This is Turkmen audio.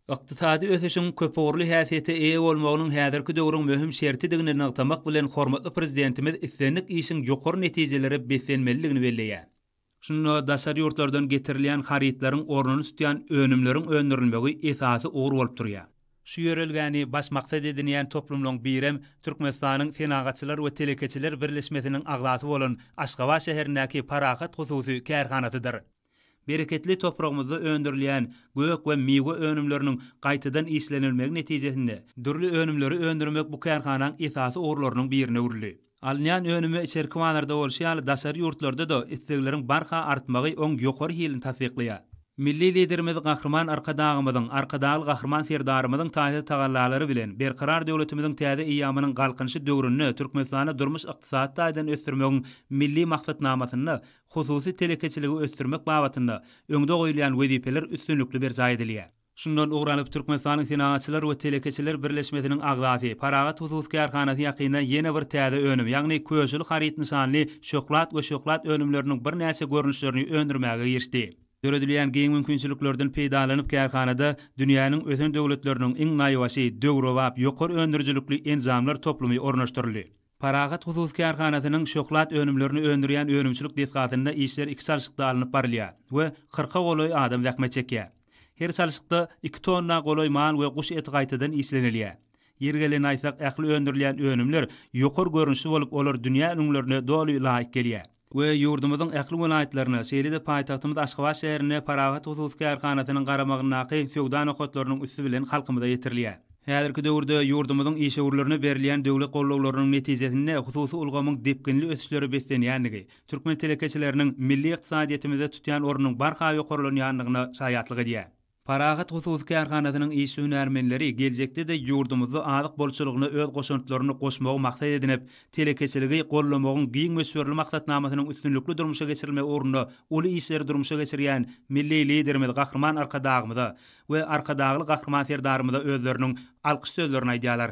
Ykdysady ösüşiň köpugurly häsiýete eýe bolmagynyň häzirki döwrüň möhüm şertidigini nygtamak bilen hormatly Prezidentimiz islendik işiň ýokary netijelere beslenmelidigini belleýär. Şunda daşary ýurtlardan getirilýän harytlaryň ornuny tutýan önümleriň öndürilmegi esasy ugur bolup durýar. Şu ýörelgäni baş maksat edinýän toplumlaryň birem Türkmenistanyň Senagatçylar we telekeçiler birleşmesiniň agzasy bolan Aşgabat şäherindäki Parahat hususy kärhanasydyr. Bereketli topragymyzda öndürilýän gök we miwe önümleriniň gaýtadan işlenilmegi netijesinde, dürli önümleri öndürmek bu kärhanaň esasy ugurlarynyň birine öwrüldi. Alynýan önüme içerki bazarda bolşy ýaly daşary ýurtlarda-da islegleriň barha artmagy oň ýokary hilini tassyklaýar. Milli Liderimiz Gahryman Arkadagymyzyň, Arkadagly Gahryman Serdarymyzyň taýsyz tagallalary bilen, Berkarar döwletimiziň täze eýýamynyň Galkynyşy döwründe Türkmenistany durmuş-ykdysady taýdan ösdürmegiň Milli maksatnamasynda Hususy telekeçiligi ösdürmek babatynda öňde goýulýan wezipeler üstünlikli berjaý edilýär. Şundan ugur alyp, Türkmenistanyň Senagatçylar we telekeçiler birleşmesiniň agzasy, Parahat hususy kärhanasy ýakynda ýene bir täze önüm, ýagny Köşeli haryt nyşanly şöhlat we şöhlat önümleriniň birnäçe görnüşlerini öndürmäge girişdi. Döredilýän giň mümkinçiliklerden peýdalanyp, kärhanada dünýäniň ösen döwletleriniň iň naýbaşy, döwrebap, ýokary öndürijilikli enjamlar toplumy ornaşdyryldy. Parahat hususy kärhanasynyň şohlad önümlerini öndürýän önümçilik desgasynda işler iki çalşykda alnyp barylýar we kyrka golaý adam zähmet çekýär. Her çalşykda iki tonna golaý mal we guş eti gaýtadan işlenilýär. Ýeri gelende aýtsak, ähli öndürilýän önümler ýokary görnüşli bolup, olar dünýä ülňülerine doly laýyk gelýär. we ýurdumyzyň ähli welaýatlaryna, şeýle-de paýtagtymyz Aşgabat şäherine Parahat hususy kärhanasynyň garamagyndaky söwda nokatlarynyň üsti bilen halkymyza ýetirilýär. Häzirki döwürde ýurdumyzyň işewürlerine berilýän döwlet gollawlarynyň netijesinde hususy ulgamyň depginli ösüşlere beslenýändigi, türkmen telekeçileriniň milli ykdysadyýetimizde tutýan ornunyň barha ýokarlanýandygyna şaýatlyk edýär. Parahat hususy kärhanasynyň işi-hünärmenleri geljekde-de ýurdumyzda azyk bolçulygyna öz goşantlaryny goşmagy maksat edinip, telekeçiligi goldamagyň giň möçberli maksatnamasynyň üstünlikli durmuşa geçirilmegi ugrunda uly işleri durmuşa geçirýän milli Liderimiz Gahryman Arkadagymyza we Arkadagly Gahryman Serdarymyza özleriniň alkyş sözlerini aýdýarlar.